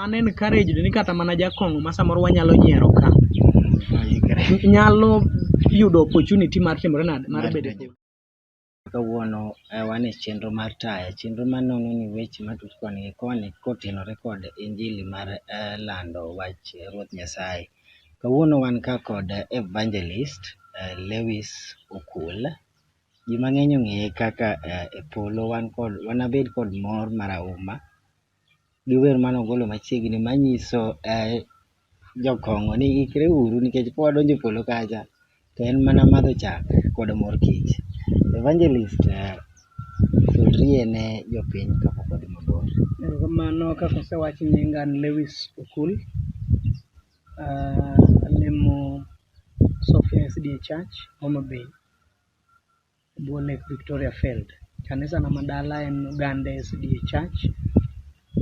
An encouraged ni kata mana jakong'o ma samoro wanyalo nyiero ka nyalo yudo opportunity mar timore nade mar bedo e kawuono eh, wan e chenro mar taya chenro ma nono ni weche matut koni gi koni kotenore kod injili mar eh, lando wach eh, ruoth nyasaye kawuono wan ka kod evangelist eh, lewis okul ji mang'eny ong'eye kaka eh, e polo wan kod wanabed kod mor marahuma gi wer mane ogolo machiegni manyiso jokong'o ni ikre uru nikech ka wadonjo e polo kacha to en mana madho chak kod mor kich. Evangelist sudri ne jopiny kapok wadhi mabor. Erokamano kaka osewach nyinga an Lewis Okul, alemo Sofia SDA Church Homa Bay. Buo Lake Victoria Failed. Kanisa na madala en Uganda SDA Church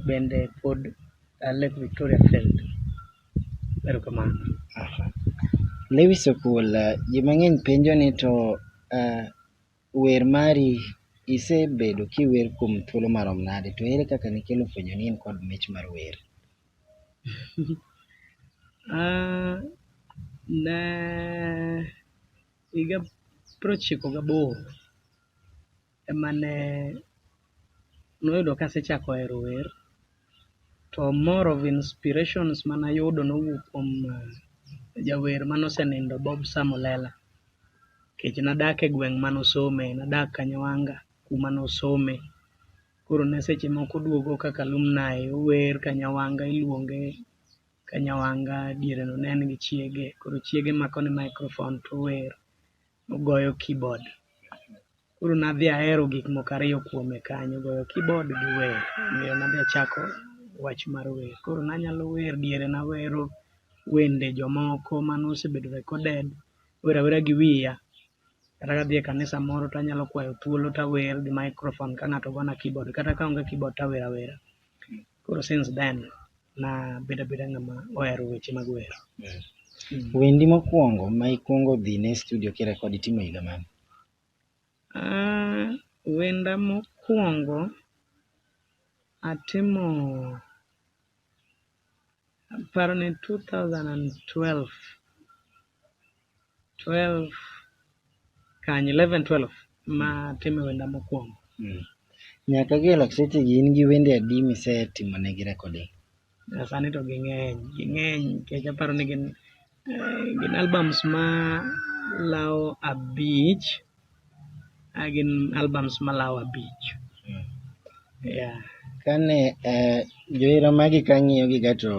bende pod uh, Lake Victoria Failed. Erokamano. Aha. Lewis Okul, uh, ji mang'eny penjo ni to uh, wer mari isebedo kiwer kuom thuolo marom nade to ere kaka nikelo fwenyo ni in kod mich mar wer? Ah, ne Higa prochiko gaboro ema ne noyudo kasechako hero wer to more of inspirations mana yudo nowuok kuom uh, jawer mane osenindo Bob Samulela nikech nadak e gweng' mane osome, nadak Kanyawanga kuma nosome. Koro ne seche moko oduogo kaka alumni, ower Kanyawanga iluonge ka Nyawanga diere no ne en gi chiege, koro chiege mako ne microphone to ower, ogoyo keyboard. Koro nadhi ahero gik moko ariyo kuome kanyo, goyo keyboard gi wer. Omiyo nadhi achako wach mar wer. Koro nanyalo wer, diere nawero wende jomoko mane osebedo recorded, awero awera gi wiya. Kata kadhi e kanisa moro to anyalo kwayo thuolo to awer gi microphone ka ng'ato gona keyboard, kata ka onge keyboard to awer awera. Koro since then na bedo abeda ng'ama ohero weche mag wer. Mm. Mm. Wendi mokwongo ma ikwongo dhi ne studio kirekod itimo higa mane? Uh, wenda mokwongo atimo paro ni 2012 12 kanye 11 12 ma time wenda mokwongo Mm. Nyaka gi elok seche gi in gi wende adi misetimo ne gi recording? Eh, sani to ging'eny ging'eny nikech aparo ni gin eh, gin albums ma lawo abich ah, gin albums ma lawo abich yeah. Kane eh, johera magi kang'iyo gi ga to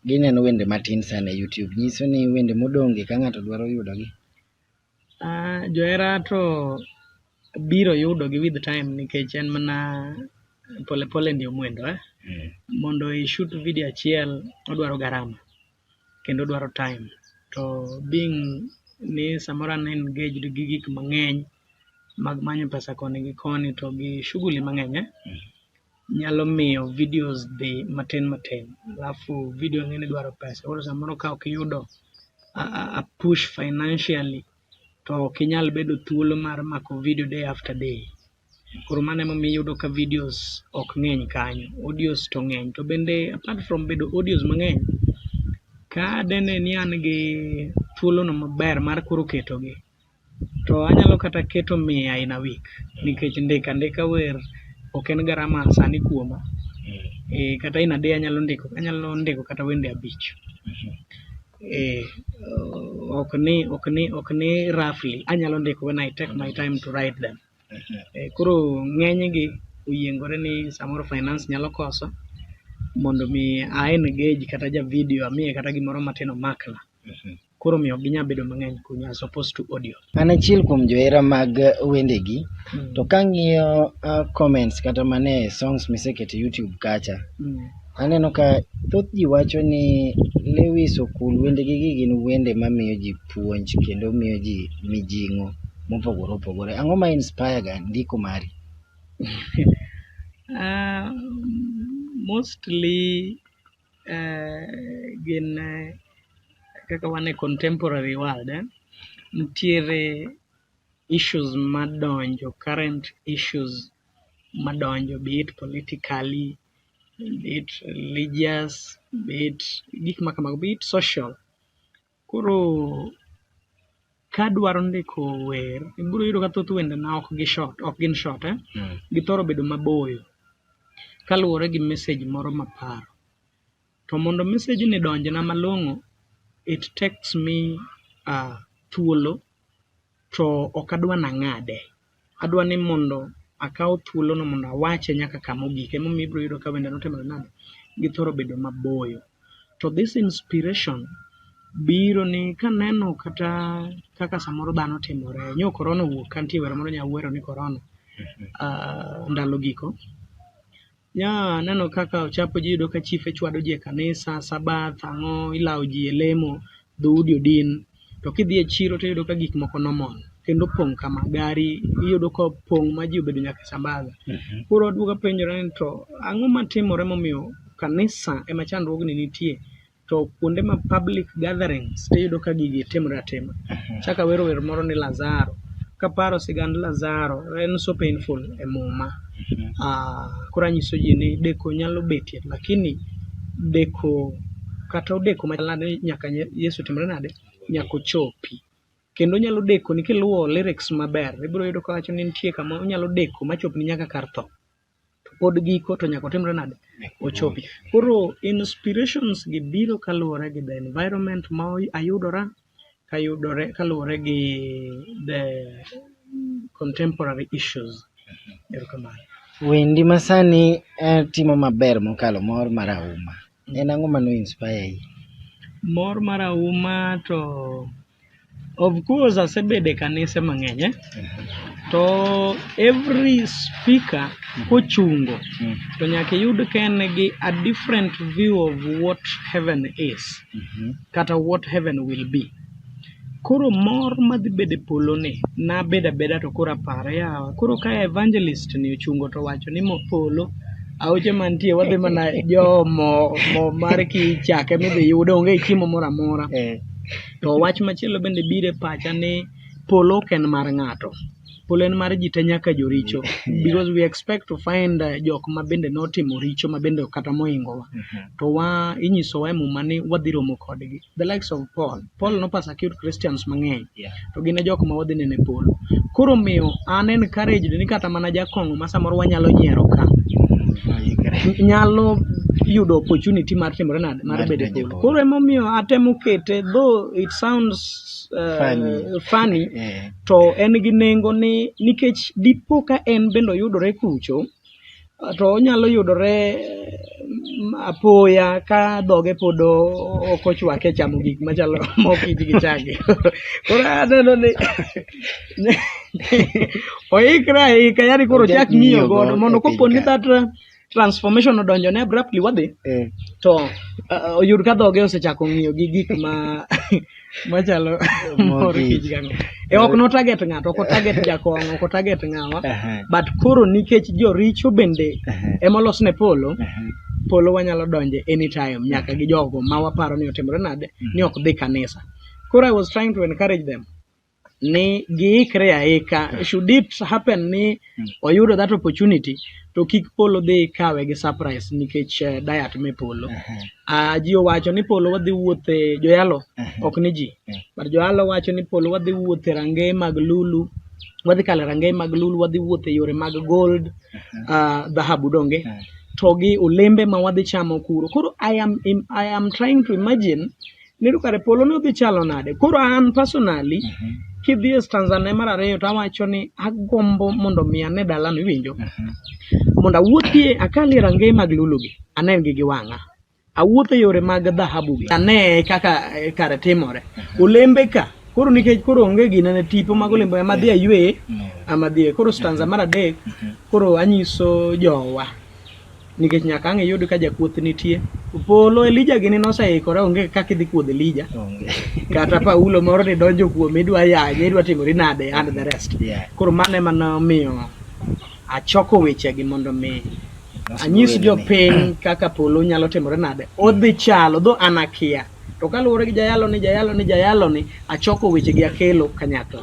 Gineno wende matin sana e YouTube. Nyiso ni wende modonge ka ng'ato dwaro yudogi. Ah, johera to biro yudogi with time nikech en mana pole pole ndio mwendo eh? Mm. Mondo i shoot video achiel odwaro garama kendo odwaro time to being ni samoro an engaged gi gik mang'eny mag manyo pesa koni gi koni to gi shughuli mang'eny eh? Mm. nyalo miyo videos dhi matin matin alafu video ng'eni dwaro pesa koro samoro ka ok iyudo a, a, a push financially to ok inyal bedo thuolo mar mako video day after day koro mano emomiyo iyudo ka videos ok ng'eny kanyo audios to ng'eny to bende apart from bedo audios mang'eny ka dene ni an gi thuolono maber mar koro ketogi To anyalo kata keto mia in a week nikech ndika ndika wer ok en garama sani kuoma. Eh, kata in a day anyalo ndiko anyalo ndiko kata wende abich. Eh, ok ni ok ni ok ni roughly anyalo ndiko when I take my time to write them. Eh, koro ng'enygi oyiengore ni samoro finance nyalo koso mondo mi a engage kata ja video amiye kata gimoro matin omakna. koro omiyo ok ginyal bedo mang'eny kuno as opposed to audio. An achiel kuom johera mag wendegi mm. to kang'iyo uh, comments kata mane songs misekete YouTube kacha mm. aneno ka thoth ji wacho ni Lewis Okul wendegi gi gin wende mamiyo ji puonj kendo miyo ji mijing'o mopogore opogore. Ang'o ma inspire ga ndiko mari? uh, mostly eh, gin eh, kaka wan e contemporary world eh, nitiere issues madonjo current issues madonjo be it politically be it religious be it gik ma kamago be it social Koro kadwaro ndiko wer, ibiro yudo ka thoth wendena ok gi short, ok gin short eh? Mm. Githoro bedo maboyo kaluwore gi message moro maparo. To mondo message ni donjna malong'o, it takes me uh, thuolo to ok adwa nang'ade. adwa ni mondo akaw thuolono mondo awache nyaka kama ogik emomiyo ibiro yudo ka wende notimore nade githoro bedo maboyo to this inspiration biro ni kaneno kata kaka samoro dhano timore nyo korona owuok kantie wero moro nya wero ni korona uh, ah, ndalo giko Yeah, aneno kaka ochapo ji yudo ka chife chwado ji e kanisa, sabath, ang'o, ilawo ji e lemo, dhoudi odin. To kidhi e chiro to iyudo ka gik moko normal kendo pong' kama gari iyudo ka pong' ma ji obedo nyaka e sambaga. Mhm. Koro aduogo apenjora ni to ang'o matimore momiyo kanisa ema chandruogni nitie? to kuonde ma public gatherings to iyudo ka gigi timre atima. Mhm. Chaka wero wer moro ni Lazaro. Kaparo sigand Lazaro, en so painful e muma. Mhm. Ah, koro anyiso ji ni deko nyalo betie, lakini deko kata odeko machalade nyaka Yesu timre nade? Nyaka ochopi. Kendo onyalo deko ni kiluwo lyrics maber, ibiro yudo ka wacho ni nitie kama onyalo deko machopni nyaka kar tho. to pod giko to nyaka otimre nade ochopi. Koro inspirations gi biro kaluwore gi the environment ma ayudora kayudore kaluwore gi the contemporary issues. Erokamano. Wendi masani eh, timo maber mokalo mor mar auma. En ang'o ma no inspire yi? Mor mar auma to Of course asebede kanise mang'eny eh? to every speaker kochungo Mm. to nyaka iyud ka en gi a different view of what heaven is Mhm. kata what heaven will be. Koro mor madhi bedo e polo ni nabedo abeda to koro apare yawa. Koro ka evangelist ni ochungo to wacho ni mo polo aoche mantie wadhi mana jo mo, mo mar kichake midhi yudo onge chiemo moro amora. Eh. To wach machielo bende biro e pacha ni polo ok en mar ng'ato. Polo en mar ji te nyaka joricho. Yeah. Because we expect to find uh, jok ma bende notimo richo ma bende kata moingowa. Mm -hmm. To wa inyisowa e muma ni wadhi romo kodgi. The likes of Paul. Paul nopasakute Christians mang'eny. Mm to gin e jok ma wadhi neno e polo. Koro omiyo an encouraged ni kata mana jakong'o ma samoro wanyalo nyiero ka nyalo yudo opportunity mar timore nade mar Mar bedo e donjo e polo. polo. Koro emomiyo atemo kete though it sounds uh, Funny. funny Eh, to en gi nengo ni nikech dipo ka en bende oyudore kucho to onyalo yudore apoya ka dhoge pod ok ochwake chamo gik machalo mokich gi chage koro aneno ni oikre aika yani koro chak ng'iyo godo mondo kopo ni that uh, transformation odonjo ne abruptly wadhi eh. to uh, oyud ka dhoge osechako ng'iyo gi gik ma machalo mor kich gang e ok no target ng'ato ok target jakong ok target ng'awa but koro nikech joricho bende ema olos ne polo polo wanyalo donje anytime nyaka gi jogo ma waparo ni otimore nade ni ok dhi kanisa koro i was trying to encourage them ni giikre aika hmm. should it happen ni hmm. oyudo that opportunity to kik polo dhi kawe gi surprise nikech uh, diet me polo uh, ji owacho ni polo wadhi wuothe joyalo ok ni ji but joyalo wacho ni polo wadhi wuothe rangeye mag lulu wadhi kale rangeye mag lulu wadhi wuothe yore mag gold uh, dhahabu uh, donge uh. to gi olembe ma wadhi chamo kuro koro I am, I am trying to imagine Nero kare polo ne odhi chalo nade? Koro an personally mm -hmm. kidhi e stanza ne mar ariyo to awacho ni agombo mondo mi ane dalano iwinjo. Mm -hmm. Mondo awuothie akalie rangeye mag lulugi anengi gi wang'a. Awuotho yore mag dhahabu gi ane kaka e, kare timore. Mhm. Olembe ka koro nikech koro onge gina ne tipo mag olembe ama dhi aywe ama dhi koro stanza mar adek mhm. koro anyiso jowa nikech nyaka ang' iyud ka jakuoth nitie polo elija gini noseikore onge kaka idhi kuodh elija kata paulo moro ni donjo kuome idwa yanye idwa timori nade and the rest Yeah. koro mano ema nomiyo achoko wechegi mondo mi anyis jopiny kaka polo nyalo timore nade odhi chalo dho an akia to kaluwore gi jayalo ni jayalo ni jayalo ni achoko wechegi akelo kanyakla